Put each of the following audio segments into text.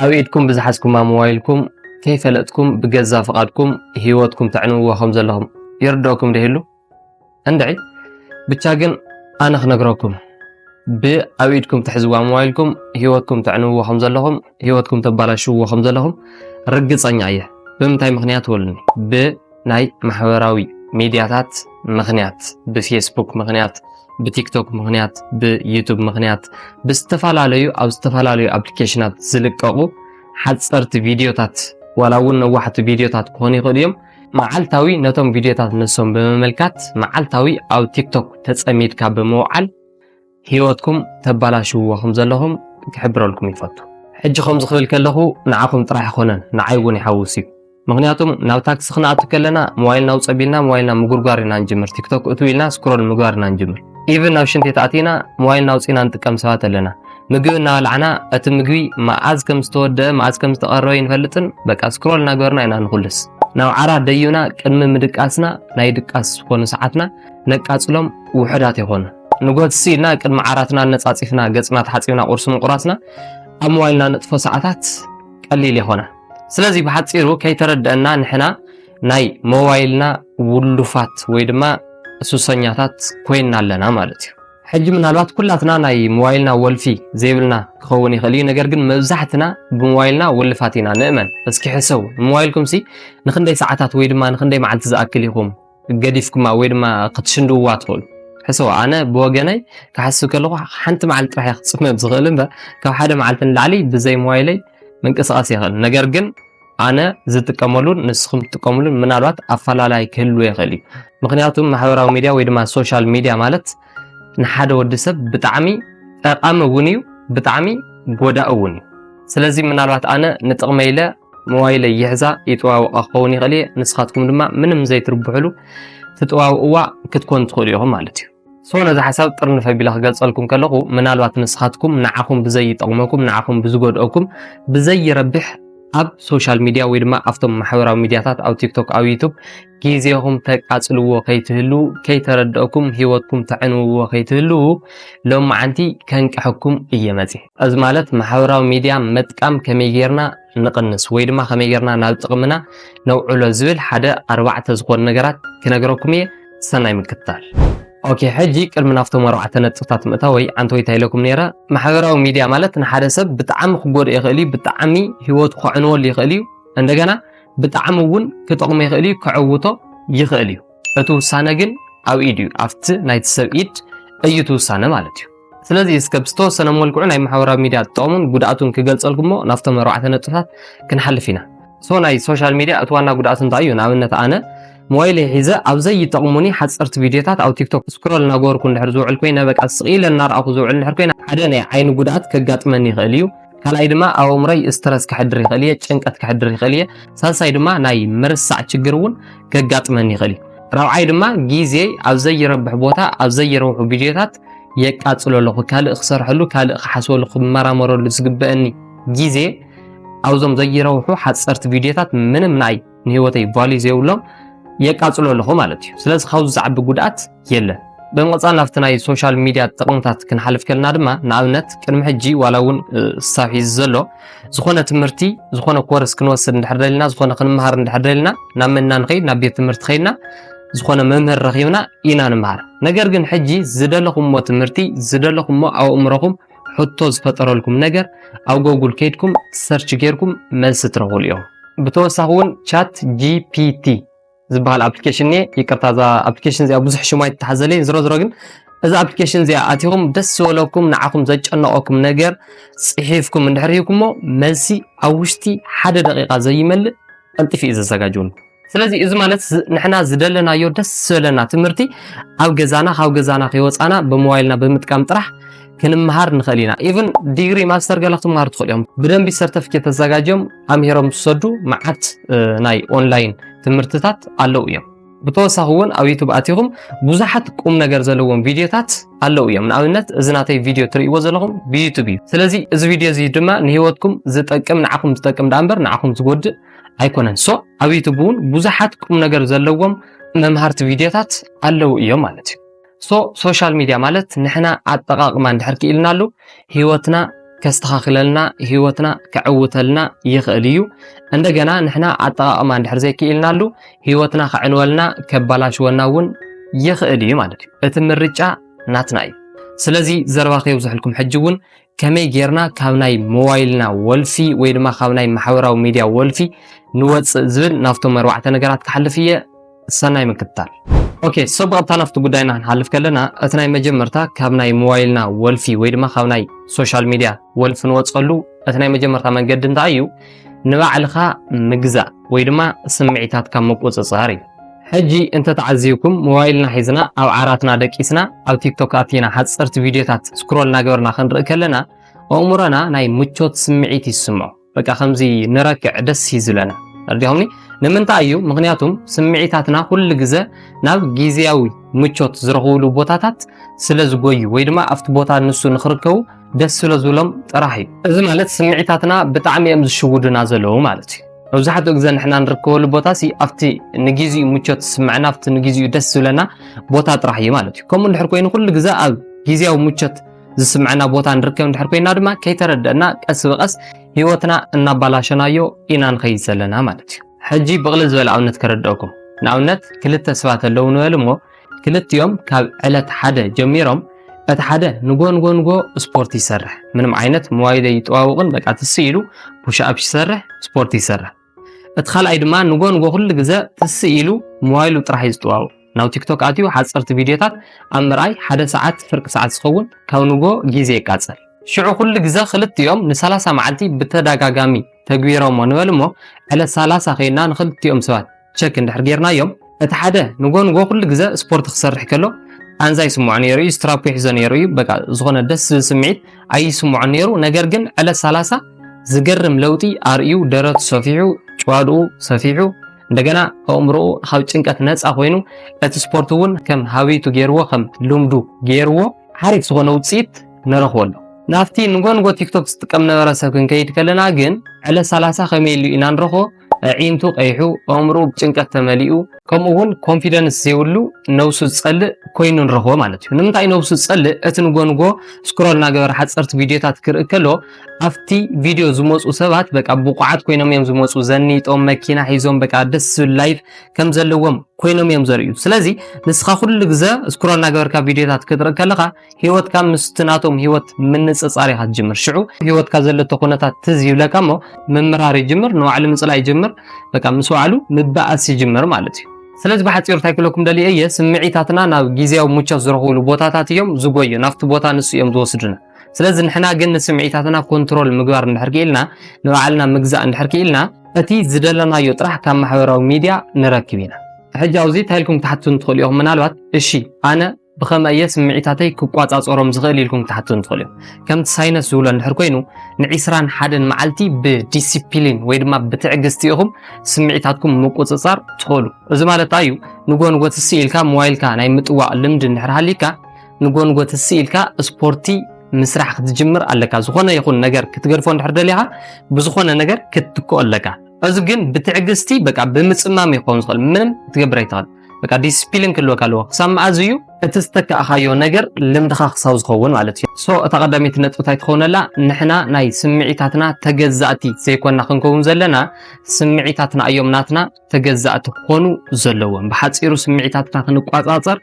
ኣብ ኢድኩም ብዝሓዝኩማ ሞባይልኩም ከይፈለጥኩም ብገዛ ፍቓድኩም ህይወትኩም ተዕንውዎ ከም ዘለኹም ይርድኦኩም ዶ ይህሉ? እንድዒ! ብቻ ግን ኣነ ክነግረኩም ብኣብ ኢድኩም ትሕዝዋ ሞባይልኩም ህይወትኩም ተዕንውዎ ከም ዘለኹም ህይወትኩም ተባላሽውዎ ከም ዘለኹም ርግጸኛ እየ። ብምንታይ ምኽንያት ወሉኒ ብ ናይ ማሕበራዊ ሚድያታት ምኽንያት ብፌስቡክ ምኽንያት ብቲክቶክ ምኽንያት ብዩቱብ ምኽንያት ብዝተፈላለዩ ኣብ ዝተፈላለዩ ኣፕሊኬሽናት ዝልቀቑ ሓፀርቲ ቪድዮታት ዋላ እውን ነዋሕቲ ቪድዮታት ክኾኑ ይኽእሉ እዮም መዓልታዊ ነቶም ቪድዮታት ንሶም ብምምልካት መዓልታዊ ኣብ ቲክቶክ ተፀሚድካ ብምውዓል ሂወትኩም ተባላሽውዎ ከም ዘለኹም ክሕብረልኩም ይፈቱ። ሕጂ ከምዚ ክብል ከለኹ ንዓኹም ጥራሕ ኣይኮነን ንዓይ እውን ይሓውስ እዩ ምኽንያቱም ናብ ታክሲ ክንኣቱ ከለና ሞባይልና ውፅ ኣቢልና ሞባይልና ምጉርጓር ኢና ንጅምር ቲክቶክ እትው ኢልና ስክሮል ምግባር ኢና ንጅምር ኢቭን ናብ ሽንት ቤት ኣቲና ሞባይልና ኣውፂና ንጥቀም ሰባት ኣለና ምግቢ እናበላዕና እቲ ምግቢ መዓዝ ከም ዝተወደአ መዓዝ ከም ዝተቐረበ ይንፈልጥን በቃ ስክሮል እናገበርና ኢና ንኹልስ ናብ ዓራ ደዩና ቅድሚ ምድቃስና ናይ ድቃስ ዝኾኑ ሰዓትና ነቃፅሎም ውሑዳት ይኾኑ ንጎትሲ ኢልና ቅድሚ ዓራትና ኣነጻጺፍና ገጽና ተሓጺብና ቁርሲ ምቁራስና ኣብ ሞባይልና ንጥፎ ሰዓታት ቀሊል የኾነ ስለዚ ብሓጺሩ ከይተረደአና ንሕና ናይ ሞባይልና ውሉፋት ወይ ድማ ሱሰኛታት ኮይና ኣለና ማለት እዩ ሕጂ ምናልባት ኩላትና ናይ ሞባይልና ወልፊ ዘይብልና ክኸውን ይኽእል እዩ ነገር ግን መብዛሕትና ብሞባይልና ውልፋት ኢና ንእመን እስኪ ሕሰቡ ንሞባይልኩም ሲ ንክንደይ ሰዓታት ወይ ድማ ንክንደይ መዓልቲ ዝኣክል ኢኹም ገዲፍኩማ ወይ ድማ ክትሽንድውዋ ትኽእሉ ሕሰቡ ኣነ ብወገነይ ክሓስብ ከለኹ ሓንቲ መዓልቲ ጥራሕ እየ ክፅመ ዝኽእል እምበር ካብ ሓደ መዓልቲ ንላዕሊ ብዘይ ሞባይለይ ምንቅስቓስ ይኽእል ነገር ግን ኣነ ዝጥቀመሉን ንስኹም ትጥቀምሉን ምናልባት ኣፈላላይ ክህልዎ ይኽእል እዩ ምክንያቱ ማሕበራዊ ሚድያ ወይ ድማ ሶሻል ሚድያ ማለት ንሓደ ወዲ ሰብ ብጣዕሚ ጠቃሚ እውን እዩ ብጣዕሚ ጎዳእ እውን እዩ ስለዚ ምናልባት ኣነ ንጥቕመ ኢለ ሞባይለይ ይሕዛ ይጠዋውቃ ክኸውን ይኽእል እየ ንስኻትኩም ድማ ምንም ዘይትርብሕሉ ትጠዋውእዋ ክትኮኑ ትኽእሉ ኢኹም ማለት እዩ ሶ ነዚ ሓሳብ ጥርንፈ ቢለ ክገልጸልኩም ከለኹ ምናልባት ንስኻትኩም ንዓኹም ብዘይጠቕመኩም ንዓኹም ብዝጎድኦኩም ብዘይረብሕ ኣብ ሶሻል ሚድያ ወይ ድማ ኣብቶም ማሕበራዊ ሚድያታት ኣብ ቲክቶክ ኣብ ዩቱብ ጊዜኹም ተቃጽልዎ ከይትህልዉ ከይተረደእኩም ሂወትኩም ተዕንውዎ ከይትህልዉ ሎምዓንቲ ከንቅሐኩም እየ መጽየ። እዚ ማለት ማሕበራዊ ሚድያ መጥቃም ከመይ ጌርና ንቕንስ ወይ ድማ ከመይ ጌርና ናብ ጥቕምና ነውዕሎ ዝብል ሓደ ኣርባዕተ ዝኾኑ ነገራት ክነግረኩም እየ ሰናይ ምክትታል። ኦኬ ሕጂ ቅድሚ ናብቶም ኣርባዕተ ነጥብታት ምእታወይ ዓንተወይታ ኢለኩም ኔረ ማሕበራዊ ሚድያ ማለት ንሓደ ሰብ ብጣዕሚ ክጎድኦ ይኽእል እዩ ብጣዕሚ ሂወቱ ከዕንወሉ ይኽእል እዩ እንደገና ብጣዕሚ እውን ክጠቕሞ ይኽእል እዩ፣ ከዕውቶ ይኽእል እዩ። እቲ ውሳነ ግን ኣብ ኢድ እዩ፣ ኣብቲ ናይቲ ሰብ ኢድ እዩ እቲ ውሳነ ማለት እዩ። ስለዚ እስከ ብዝተወሰነ መልክዑ ናይ ማሕበራዊ ሚድያ ጥቕሙን ጉድኣቱን ክገልጸልኩሞ ናብቶም ኣርባዕተ ነጥብታት ክንሓልፍ ኢና። ሶ ናይ ሶሻል ሚድያ እቲ ዋና ጉድኣቱ እንታይ እዩ? ንኣብነት ኣነ ሞባይለይ ሒዘ ኣብ ዘይጠቕሙኒ ሓጸርቲ ቪድዮታት ኣብ ቲክቶክ ስክሮል እናገበርኩ እንድሕር ዝውዕል ኮይነ በቃ ስቕ ኢለ እናርኣኹ ዝውዕል እንድሕር ኮይነ ሓደ ናይ ዓይኒ ጉድኣት ከጋጥመኒ ይኽእል እዩ። ካልኣይ ድማ ኣብ ኣእምሮይ ስትረስ ክሕድር ይኽእል እየ፣ ጭንቀት ክሕድር ይኽእል እየ። ሳልሳይ ድማ ናይ ምርሳዕ ችግር እውን ከጋጥመኒ ይኽእል እዩ። ራብዓይ ድማ ግዜይ ኣብ ዘይረብሕ ቦታ ኣብ ዘይረብሑ ቪድዮታት የቃፅሎ ኣለኹ። ካልእ ክሰርሐሉ፣ ካልእ ክሓስበሉ፣ ክመራመረሉ ዝግበአኒ ግዜ ኣብዞም ዘይረብሑ ሓፀርቲ ቪድዮታት ምንም ንኣይ ንህይወተይ ቫልዩ ዘይብሎም የቃጽሎ ኣለኹ ማለት እዩ ስለዚ ካብዚ ዝዓቢ ጉድኣት የለን ብምቕጻል ናብቲ ናይ ሶሻል ሚድያ ጥቕምታት ክንሓልፍ ከለና ድማ ንኣብነት ቅድሚ ሕጂ ዋላ እውን ክሳብ ሒዚ ዘሎ ዝኾነ ትምህርቲ ዝኾነ ኮርስ ክንወስድ እንድሕር ደልና ዝኾነ ክንምሃር እንድሕር ደልና ናብ መና ንኸይድ ናብ ቤት ትምህርቲ ከይድና ዝኾነ መምህር ረኺብና ኢና ንምሃር ነገር ግን ሕጂ ዝደለኹምዎ ትምህርቲ ዝደለኹምዎ ኣእምሮኹም ሕቶ ዝፈጠረልኩም ነገር ኣብ ጎጉል ከይድኩም ሰርች ጌርኩም መልሲ ትረኽብሉ እዮም ብተወሳኺ እውን ቻት ጂፒቲ ዝበሃል ኣፕሊኬሽን እየ ይቅርታ እዛ ኣፕሊኬሽን እዚኣ ብዙሕ ሽማ ይተሓዘለ ዝሮ ዝሮ ግን እዛ ኣፕሊኬሽን እዚኣ ኣቲኹም ደስ ዝበለኩም ንዓኹም ዘጨነቐኩም ነገር ፅሒፍኩም እንድሕር ሂብኩሞ መልሲ ኣብ ውሽጢ ሓደ ደቂቃ ዘይመልእ ቀልጢፍ እዩ ዘዘጋጅውን ስለዚ እዚ ማለት ንሕና ዝደለናዮ ደስ ዝበለና ትምህርቲ ኣብ ገዛና ካብ ገዛና ከይወፃና ብሞባይልና ብምጥቃም ጥራሕ ክንምሃር ንኽእል ኢና ኢቨን ዲግሪ ማስተር ገለ ክትምሃሩ ትኽእል እዮም ብደንቢ ሰርተፊኬት ተዘጋጅዮም ኣምሂሮም ዝሰዱ መዓት ናይ ኦንላይን ትምህርትታት ኣለዉ እዮም ብተወሳኺ እውን ኣብ ዩቱብ ኣቲኹም ብዙሓት ቁም ነገር ዘለዎም ቪድዮታት ኣለዉ እዮም ንኣብነት እዚ ናተይ ቪድዮ ትርእይዎ ዘለኹም ብዩቱብ እዩ ስለዚ እዚ ቪድዮ እዚ ድማ ንሂወትኩም ዝጠቅም ንዓኹም ዝጠቅም ዳኣ እምበር ንዓኹም ዝጎድእ ኣይኮነን ሶ ኣብ ዩቱብ እውን ብዙሓት ቁም ነገር ዘለዎም መምሃርቲ ቪድዮታት ኣለዉ እዮም ማለት እዩ ሶ ሶሻል ሚድያ ማለት ንሕና ኣጠቃቅማ እንድሕር ክኢልናሉ ህይወትና ከስተኻኽለልና ህይወትና ከዕውተልና ይኽእል እዩ እንደገና ንሕና ኣጠቃቅማ እንድሕር ዘይክኢልናሉ ህይወትና ከዕንወልና ከባላሽወና እውን ይኽእል እዩ ማለት እዩ እቲ ምርጫ ናትና እዩ ስለዚ ዘረባ ከየብዝሐልኩም ሕጂ እውን ከመይ ጌርና ካብ ናይ ሞባይልና ወልፊ ወይ ድማ ካብ ናይ ማሕበራዊ ሚድያ ወልፊ ንወፅእ ዝብል ናብቶም ኣርባዕተ ነገራት ክሓልፍ እየ ሰናይ ምክትታል ኦኬ ሰብ ብቐጥታ ናብቲ ጉዳይና ክንሓልፍ ከለና እቲ ናይ መጀመርታ ካብ ናይ ሞባይልና ወልፊ ወይ ድማ ካብ ናይ ሶሻል ሚድያ ወልፊ ንወፀሉ እቲ ናይ መጀመርታ መንገዲ እንታይ እዩ ንባዕልኻ ምግዛእ ወይ ድማ ስምዒታትካ ምቁፅፃር እዩ ሕጂ እንተ ተዓዚብኩም ሞባይልና ሒዝና ኣብ ዓራትና ደቂስና ኣብ ቲክቶክ ኣቲና ሓጸርቲ ቪድዮታት ስክሮል እናገበርና ክንርኢ ከለና ኣእምሮና ናይ ምቾት ስምዒት እዩ ዝስምዖ በቃ ከምዚ ንረክዕ ደስ እዩ ዝብለና ረዲኹምኒ ንምንታይ እዩ ምክንያቱም ስምዒታትና ኩሉ ግዘ ናብ ግዜያዊ ምቾት ዝረኽብሉ ቦታታት ስለ ዝጎዩ ወይ ድማ ኣብቲ ቦታ ንሱ ንክርከቡ ደስ ስለ ዝብሎም ጥራሕ እዩ እዚ ማለት ስምዒታትና ብጣዕሚ እዮም ዝሽውዱና ዘለዉ ማለት እዩ መብዛሕትኡ ግዜ ንሕና ንርከበሉ ቦታ ሲ ኣብቲ ንግዚኡ ምቾት ዝስምዐና ኣብቲ ንግዚኡ ደስ ዝብለና ቦታ ጥራሕ እዩ ማለት እዩ ከምኡ እንድሕር ኮይኑ ኩሉ ግዜ ኣብ ግዜያዊ ምቾት ዝስምዐና ቦታ ንርከብ እንድሕር ኮይና ድማ ከይተረደአና ቀስ ብቀስ ህይወትና እናባላሸናዮ ኢና ንኸይድ ዘለና ማለት እዩ ሕጂ ብቕልል ዝበለ ኣብነት ከረድአኩም ንኣብነት ክልተ ሰባት ኣለዉ ንበል እሞ ክልቲኦም ካብ ዕለት ሓደ ጀሚሮም እቲ ሓደ ንጎንጎንጎ ስፖርት ይሰርሕ ምንም ዓይነት መዋይደ ይጠዋውቕን በቃ ትስ ኢሉ ፑሽኣፕ ይሰርሕ ስፖርት ይሰርሕ እቲ ካልኣይ ድማ ንጎንጎ ኩሉ ግዘ ትስ ኢሉ መዋይሉ ጥራሕ እዩ ዝጠዋውቕ ናብ ቲክቶክ ኣትዩ ሓፀርቲ ቪድዮታት ኣብ ምርኣይ ሓደ ሰዓት ፍርቂ ሰዓት ዝኸውን ካብ ንጎ ግዜ ይቃፀል ሽዑ ኩሉ ግዘ ክልቲኦም ን30 መዓልቲ ብተደጋጋሚ ተግቢሮሞ ንበል እሞ ዕለት 30 ከይና ንክልቲኦም ሰባት ቸክ እንድሕር ጌርናዮም እቲ ሓደ ንጎ ንጎ ኩሉ ግዘ ስፖርት ክሰርሕ ከሎ ቃንዛ ይስምዖ ነይሩ እዩ ስትራፖ ይሕዞ ነይሩ እዩ በቃ ዝኾነ ደስ ዝብል ስምዒት ኣይስምዖን ነይሩ ነገር ግን ዕለት ሰላሳ ዝገርም ለውጢ ኣርእዩ ደረቱ ሰፊሑ ጭዋድኡ ሰፊሑ እንደገና ኣእምሮኡ ካብ ጭንቀት ነፃ ኮይኑ እቲ ስፖርት እውን ከም ሃብይቱ ገይርዎ ከም ልምዱ ገይርዎ ሓሪፍ ዝኾነ ውፅኢት ንረኽበሉ ናብቲ ንጎንጎ ቲክቶክ ዝጥቀም ነበረ ሰብ ክንከይድ ከለና ግን ዕለት 30 ከመይ ኢሉ ኢና ንረኽቦ ኣዒንቱ ቀይሑ ኣእምርኡ ብጭንቀት ተመሊኡ ከምኡ እውን ኮንፊደንስ ዘይብሉ ነብሱ ዝፀልእ ኮይኑ ንረኽቦ ማለት እዩ ንምንታይ ነብሱ ዝፀልእ እቲ ንጎንጎ ስክሮል እናገበረ ሓፀርቲ ቪድዮታት ክርኢ ከሎ ኣብቲ ቪድዮ ዝመፁ ሰባት በቃ ብቑዓት ኮይኖም እዮም ዝመፁ ዘኒጦም መኪና ሒዞም በቃ ደስ ዝብል ላይፍ ከም ዘለዎም ኮይኖም እዮም ዘርእዩ ስለዚ ንስኻ ኩሉ ግዘ ስክሮል እናገበርካ ቪድዮታት ክትርኢ ከለኻ ህይወትካ ምስቲ ናቶም ህይወት ምንጽጻር ኢኻ ትጅምር ሽዑ ህይወትካ ዘለቶ ኩነታት ትዝ ይብለካ እሞ ምምርሃር ይጅምር ንባዕሉ ምጽላይ ይጅምር በቃ ምስ ባዕሉ ምባኣስ ይጅምር ማለት እዩ ስለዚ ብሓፂሩ እንታይ ክለኩም ደልየ እየ ስምዒታትና ናብ ግዜያዊ ሙቾት ዝረኽብሉ ቦታታት እዮም ዝጎዩ ናብቲ ቦታ ንሱ እዮም ዝወስዱና ስለዚ ንሕና ግን ንስምዒታትና ኮንትሮል ምግባር እንድሕር ክኢልና ንባዕልና ምግዛእ እንድሕር ክኢልና እቲ ዝደለናዮ ጥራሕ ካብ ማሕበራዊ ሚድያ ንረክብ ኢና ሕጂ ኣብዚ እንታይ ኢልኩም ክትሓትቱን ትኽእሉ ኢኹም ምናልባት እሺ ኣነ ብኸመይ እየ ስምዒታተይ ክቋጻጸሮም ዝኽእል ኢልኩም ክትሓትቱን ትኽእሉ እዮም ከምቲ ሳይነስ ዝብሎ እንድሕር ኮይኑ ንዒስራን ሓደን መዓልቲ ብዲሲፕሊን ወይ ድማ ብትዕግስቲ ኢኹም ስምዒታትኩም ምቁጽጻር ትኽእሉ እዚ ማለት እዩ ንጎንጎ ትስ ኢልካ ሞባይልካ ናይ ምጥዋቕ ልምዲ እንድሕር ሃሊካ ንጎንጎ ትስ ኢልካ ስፖርቲ ምስራሕ ክትጅምር ኣለካ ዝኾነ ይኹን ነገር ክትገድፎ እንድሕር ደሊኻ ብዝኾነ ነገር ክትትክኦ ኣለካ እዚ ግን ብትዕግስቲ በቃ ብምጽማም ይኸውን ዝኽእል ምንም ክትገብር ኣይትኽእል በቃ ዲስፕሊን ክህልወካ ኣለዎ ክሳብ መኣዝ እዩ እቲ ዝተካእኻዮ ነገር ልምድኻ ክሳብ ዝኸውን ማለት እዩ ሶ እታ ቀዳመይቲ ነጥቢ እንታይ ትኸውነላ ንሕና ናይ ስምዒታትና ተገዛእቲ ዘይኮና ክንከውን ዘለና ስምዒታትና እዮም ናትና ተገዛእቲ ክኾኑ ዘለዎም ብሓፂሩ ስምዒታትና ክንቋፃፀር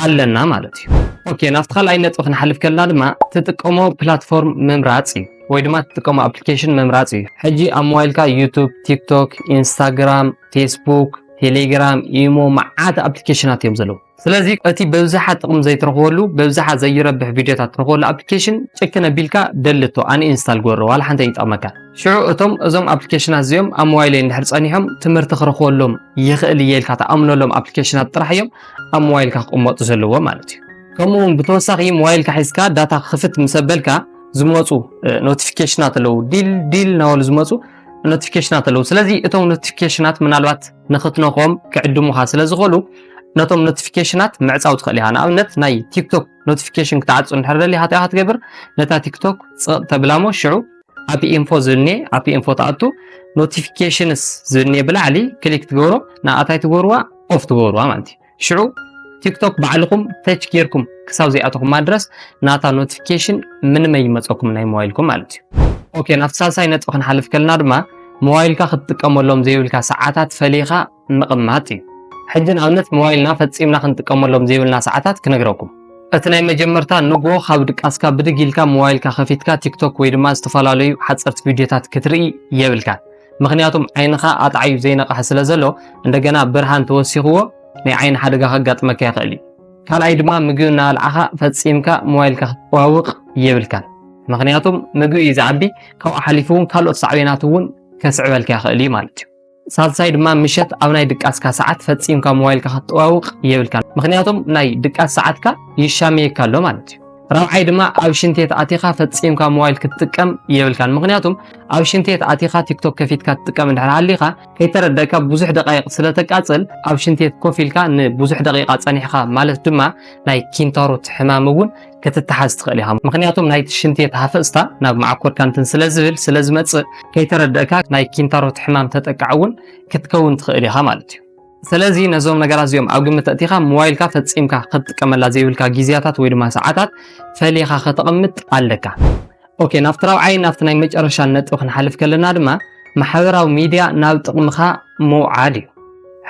ኣለና ማለት እዩ ኦኬ ናብቲ ካልኣይ ነጥቢ ክንሓልፍ ከለና ድማ ትጥቀሞ ፕላትፎርም ምምራፅ እዩ ወይ ድማ ትጥቀሞ ኣፕሊኬሽን ምምራፅ እዩ ሕጂ ኣብ ሞባይልካ ዩቱብ ቲክቶክ ኢንስታግራም ፌስቡክ፣ ቴሌግራም፣ ኢሞ መዓት ኣፕሊኬሽናት እዮም ዘለዉ። ስለዚ እቲ በብዝሓ ጥቕሚ ዘይትረኽበሉ በብዝሓ ዘይረብሕ ቪድዮታት ትረኽበሉ ኣፕሊኬሽን ጭክን ኣቢልካ ደልቶ ኣንኢንስታል ግበሮ ዋላ ሓንቲ ኣይጠቕመካ። ሽዑ እቶም እዞም ኣፕሊኬሽናት እዚኦም ኣብ ሞባይለይ እንድሕር ጸኒሖም ትምህርቲ ክረኽበሎም ይኽእል እየ ኢልካ ተኣምነሎም ኣፕሊኬሽናት ጥራሕ እዮም ኣብ ሞባይልካ ክቕመጡ ዘለዎ ማለት እዩ። ከምኡ እውን ብተወሳኺ ሞባይልካ ሒዝካ ዳታ ክኽፍት ምስ ኣበልካ ዝመፁ ኖቲፊኬሽናት ኣለዉ ዲል ዲል እናበሉ ዝመፁ ኖቲፊኬሽናት ኣለዉ ስለዚ እቶም ኖቲፊኬሽናት ምናልባት ንክትነኾም ክዕድሙኻ ስለ ዝኽእሉ ነቶም ኖቲፊኬሽናት ምዕፃው ትኽእል ኢኻ ንኣብነት ናይ ቲክቶክ ኖቲፊኬሽን ክትዓፁ እንድሕር ደሊኻ እንታይ ክትገብር ነታ ቲክቶክ ፅቕ ተብላ እሞ ሽዑ ኣብ ኢንፎ ዝብልኔ ኣብ ኢንፎ ትኣቱ ኖቲፊኬሽንስ ዝብልኔ ብላዕሊ ክሊክ ትገብሮ ንኣታይ ትገብርዋ ኦፍ ትገብርዋ ማለት እዩ ሽዑ ቲክቶክ ባዕልኹም ተች ጌርኩም ክሳብ ዘይኣተኹማ ድረስ ናታ ኖቲፊኬሽን ምንም ኣይመፀኩም ናይ ሞባይልኩም ማለት እዩ ኦኬ ናብቲ ሳልሳይ ነጥቢ ክንሓልፍ ከለና ድማ ሞባይልካ ክትጥቀመሎም ዘይብልካ ሰዓታት ፈሊኻ ምቕማጥ እዩ ሕጂ ንኣብነት ሞባይልና ፈፂምና ክንጥቀመሎም ዘይብልና ሰዓታት ክነግረኩም እቲ ናይ መጀመርታ ንጎ ካብ ድቃስካ ብድግ ኢልካ ሞባይልካ ከፊትካ ቲክቶክ ወይ ድማ ዝተፈላለዩ ሓፀርቲ ቪድዮታት ክትርኢ የብልካ ምክንያቱም ዓይንኻ ኣጣዕዩ ዘይነቕሐ ስለ ዘሎ እንደገና ብርሃን ተወሲኽዎ ናይ ዓይኒ ሓደጋ ከጋጥመካ ይኽእል እዩ። ካልኣይ ድማ ምግቢ እናበልዓኻ ፈፂምካ ሞባይልካ ክትጠዋውቕ የብልካን። ምክንያቱም ምግቢ እዩ ዝዓቢ ካብኡ ሓሊፉ እውን ካልኦት ሳዕቤናት እውን ከስዕበልካ ይኽእል እዩ ማለት እዩ። ሳልሳይ ድማ ምሸት ኣብ ናይ ድቃስካ ሰዓት ፈፂምካ ሞባይልካ ክትጠዋውቕ የብልካን። ምክንያቱም ናይ ድቃስ ሰዓትካ ይሻመየካ ኣሎ ማለት እዩ። ራብዓይ ድማ ኣብ ሽንቴት ኣቲኻ ፈጺምካ ሞባይል ክትጥቀም የብልካን ምክንያቱም ኣብ ሽንቴት ኣቲኻ ቲክቶክ ከፊትካ ትጥቀም እንድሕር ሃሊኻ ከይተረደካ ብዙሕ ደቃይቕ ስለ ተቃጽል ኣብ ሽንቴት ኮፍ ኢልካ ንብዙሕ ደቂቓ ጸኒሕኻ ማለት ድማ ናይ ኪንታሮት ሕማም እውን ክትተሓዝ ትኽእል ኢኻ ምክንያቱም ናይቲ ሽንቴት ሃፈጽታ ናብ መዓኮርካ እንትን ስለ ዝብል ስለ ዝመጽእ ከይተረደእካ ናይ ኪንታሮት ሕማም ተጠቃዕ እውን ክትከውን ትኽእል ኢኻ ማለት እዩ ስለዚ ነዞም ነገራት እዚኦም ኣብ ግምት ኣእቲኻ ሞባይልካ ፈጺምካ ክትጥቀመላ ዘይብልካ ግዜያታት ወይ ድማ ሰዓታት ፈሊኻ ከተቕምጥ ኣለካ። ኦኬ ናብቲ ራብዓይን ናብቲ ናይ መጨረሻን ነጥቢ ክንሓልፍ ከለና ድማ ማሕበራዊ ሚድያ ናብ ጥቕምኻ ምውዓል እዩ።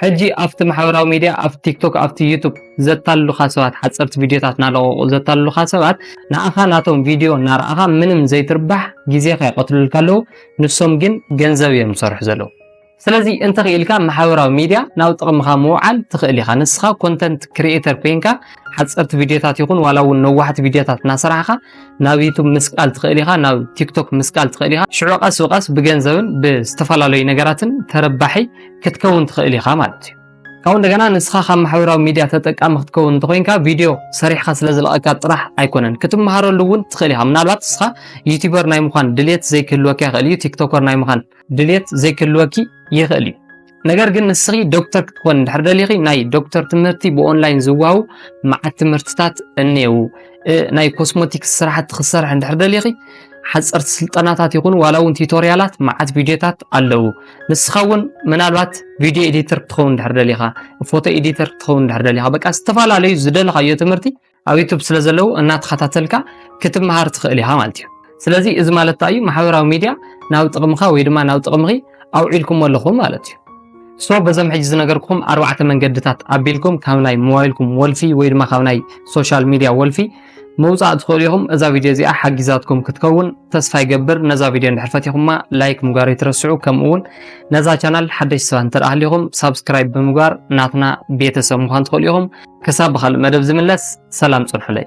ሕጂ ኣብቲ ማሕበራዊ ሚድያ ኣብ ቲክቶክ ኣብቲ ዩቱብ ዘታልሉኻ ሰባት ሓጸርቲ ቪድዮታት እናለቐቑ ዘታልሉኻ ሰባት ንኣኻ ናቶም ቪድዮ እናረኣኻ ምንም ዘይትርባሕ ግዜኻ ይቐትሉልካ ኣለዉ ንሶም ግን ገንዘብ እዮም ዝሰርሑ ዘለዉ። ስለዚ እንተኺኢልካ ማሕበራዊ ሚድያ ናብ ጥቕምኻ ምውዓል ትኽእል ኢኻ። ንስኻ ኮንተንት ክሪኤተር ኮይንካ ሓፀርቲ ቪድዮታት ይኹን ዋላ እውን ነዋሕቲ ቪድዮታት እናሰራሕኻ ናብ ዩቱብ ምስቃል ትኽእል ኢኻ፣ ናብ ቲክቶክ ምስቃል ትኽእል ኢኻ። ሽዑ ቀስ ብቀስ ብገንዘብን ብዝተፈላለዩ ነገራትን ተረባሒ ክትከውን ትኽእል ኢኻ ማለት እዩ። ካብኡ እንደገና ንስኻ ካብ ማሕበራዊ ሚድያ ተጠቃሚ ክትከውን እንተኮይንካ ቪድዮ ሰሪሕካ ስለዝለቐካ ጥራሕ ኣይኮነን ክትመሃረሉ እውን ትኽእል ኢኻ። ምናልባት ንስኻ ዩቲበር ናይ ምዃን ድሌት ዘይክህልወካ ይኽእል እዩ ቲክቶከር ናይ ምዃን ድሌት ዘይክህልወኪ ይኽእል እዩ ነገር ግን ንስኺ ዶክተር ክትኮን እንድሕር ደሊኺ ናይ ዶክተር ትምህርቲ ብኦንላይን ዝዋሃቡ መዓት ትምህርትታት እኔዉ ናይ ኮስሞቲክስ ስራሕቲ ክትሰርሒ እንድሕር ደሊኺ ሓፀርቲ ስልጠናታት ይኹኑ ዋላ እውን ቲቶሪያላት መዓት ቪድዮታት ኣለዉ ንስኻ እውን ምናልባት ቪድዮ ኤዲተር ክትኸውን እንድሕር ደሊኻ ፎቶ ኤዲተር ክትኸውን እንድሕር ደሊኻ በቃ ዝተፈላለዩ ዝደለኻዮ ትምህርቲ ኣብ ዩቱብ ስለ ዘለዉ እናተኸታተልካ ክትመሃር ትኽእል ኢኻ ማለት እዩ ስለዚ እዚ ማለት እንታይ እዩ ማሕበራዊ ሚድያ ናብ ጥቕምኻ ወይ ድማ ናብ ጥቕምኺ ኣውዒልኩሞ ኣለኹም ማለት እዩ ሶ በዞም ሕጂ ዝነገርኩም ኣርባዕተ መንገድታት ኣቢልኩም ካብ ናይ ሞባይልኩም ወልፊ ወይ ድማ ካብ ናይ ሶሻል ሚድያ ወልፊ ምውፃእ ትኽእሉ ኢኹም እዛ ቪድዮ እዚኣ ሓጊዛትኩም ክትከውን ተስፋ ይገብር ነዛ ቪድዮ እንድሕር ፈቲኹማ ላይክ ምግባር ይትረስዑ ከምኡ እውን ነዛ ቻናል ሓደሽቲ ሰባት እንተ ሃሊኹም ሳብስክራይብ ብምግባር ናትና ቤተሰብ ምዃን ትኽእሉ ኢኹም። ክሳብ ብኻልእ መደብ ዝምለስ ሰላም ጽንሑለይ።